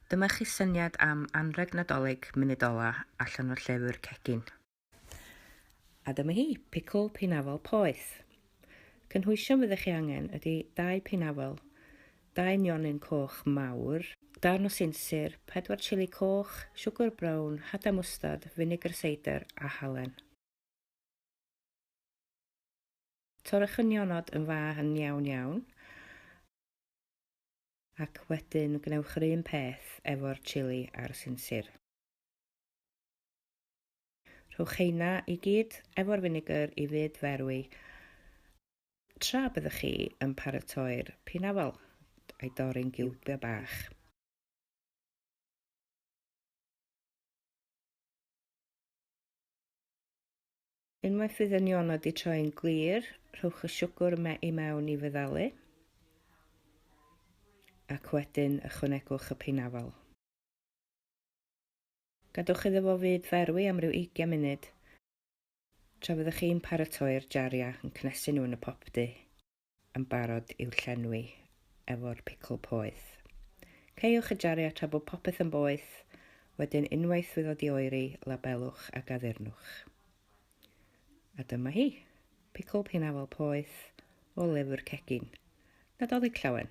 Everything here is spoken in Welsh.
Dyma chi syniad am anrheg Nadolig munud ola allan o'r llefur cegin. A dyma hi, picl peinafel poeth. Cynhwysion fyddech chi angen ydy dau peinafel, dau nionyn coch mawr, darn o sinsir, pedwar chili coch, siwgr brown, hadau mwstard, finegr seidr a halen. Torrwch y nionod yn fach yn iawn iawn. Ac wedyn gwnewch yr un peth efo'r chili a'r sinsir. Rhowch heina i gyd efo'r finegr i fyd ferwi tra byddwch chi yn paratoi'r pinafal a'i dorri'n giwbiau bach. Unwaith fydd y nionod di troi'n glir, rhowch y siwgr yma i mewn i fyddalu ac wedyn ychwanegwch y peinafal. Gadwch iddo fo fyd ferwi am ryw 20 munud tra fyddwch chi'n paratoi'r jariau yn cnesu nhw yn y popdy. yn barod i'w llenwi efo'r picl poeth. Caewch y jariau tra bod popeth yn boeth, wedyn unwaith fydd o di oeri, labelwch ac addurnwch. A dyma hi, picl peinafal poeth o lyfr cegin, Nadolig Llawen.